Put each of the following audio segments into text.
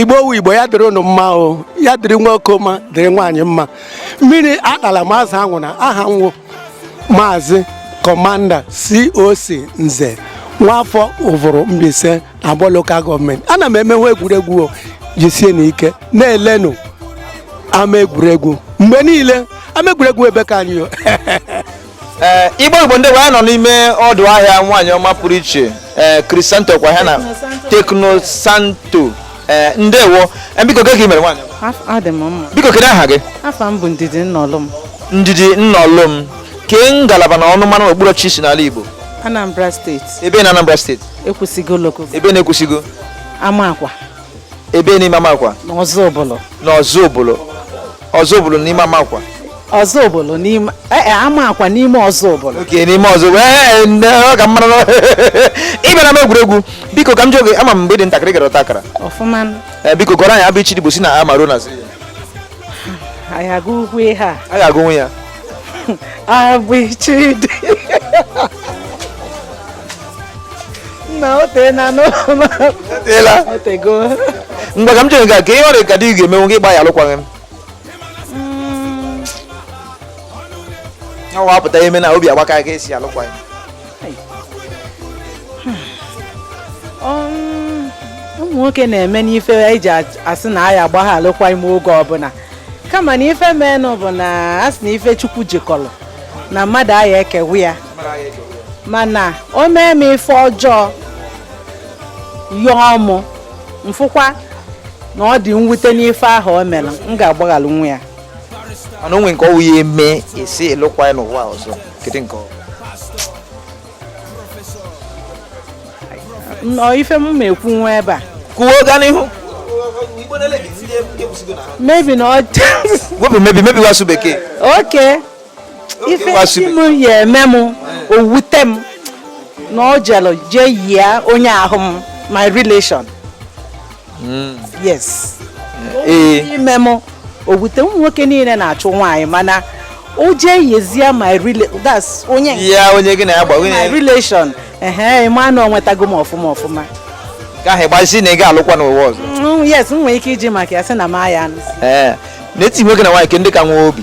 igbo wu igbo ya dịrị unu mma o ya dịrị nwoke mma dịrị nwaanyị mma mmiri atala ma azụ anwụna aha m wụ maazị kọmanda coc nze nwafọ ụvụrụ Mbaise na abọ lokal gọọmenti ana m emenwe egwuregwu jisienụ ike na-elenụ ama egwuregwu mgbe niile ama egwuregwu ebe ka anyị ee igbo wu igbo ndewo anyị nọ n'ime ọdụ ahịa nwaanyị ọma pụrụ iche ee krisanto kwa ha na teknosanto ee ndewo Ee, biko kee ka i mere nwaanyị ọma? Af- adị m mma biko kedu aha gị afa m bụ ndidi nnolum ndidi nnolum kee ngalaba na ọnụmara okpuru ọchịchị i si n'ala igbo anambra steeti ebe na anambra steeti ekwusigo lokal ebe na ekwusigo amakwa ebe n'ime amakwa n'ozubulu n'ozubulu ozubulu n'ime amakwa ozubulu n'ime ee e, amakwa n'ime ozubulu oke n'ime ozubulu ee ọ ka mara na ị bịara ama egwuregwu biko ka m jụọ gị ama m mgbe ị dị ntakịrị ị gara ọta akara ọfụma biko gụọrọ anyị a b ch d igbo si na a ma ruo na z aya m agụnwu ihe a a ga-agụnwu ya a b ch d nna o teena n'ụlọ eteela o tego ngwa ka m jụọ gị kee ihe ọ rị ka di gị ga-emenwu gị ị gbaa ya alụkwaghị m ọwa apụta ime na obi agbaka gị ị sị alụkwaghị m um, ụmụ nwoke na-eme n'ife eji asị na aya agba ya alụkwaghị m oge ọbụla kama na ife menụ bụ na asị na ife chukwu jikọrọ na mmadụ aya ekewa ya mana o mee m ife ọjọọ yọọ mụ m fụkwa na ọ dị mwute n'ife ahụ o mere m ga-agbaghalụ nwa ya mana o nwee nke ọ wụ ya eme ị sị alụkwa ya n'ụwa ọzọ kedu nke ọ wụ ife m ma ekwu nwa ebe a kwuo gaa n'ihu maybe na ọ wepụ maybe maybe wasụ bekee oke ife di m ya eme m o wute m na ọ jere jee yie onye wụ my relation hmm. yes eh. ime m o wute ụmụ nwoke niile na-achụ nwaanyị mana o jee yezie my relation that's onye ya onye gị na ya gba my relation ehe ị ma na ọ nwetago m ọfụma ọfụma nke ahụ ị ga-asịzi na ị ga-alụkwa n'ụwa ọzọ mm, yes m nwere ike iji maka ya sị na m aya anụ n'etiti nwoke na nwaanyị kee ndị ka nwee obi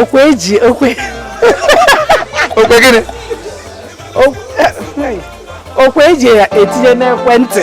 ọkụ eji ọkụ ọkụ gịnị ọkụ eji ya etinye n'ekwentị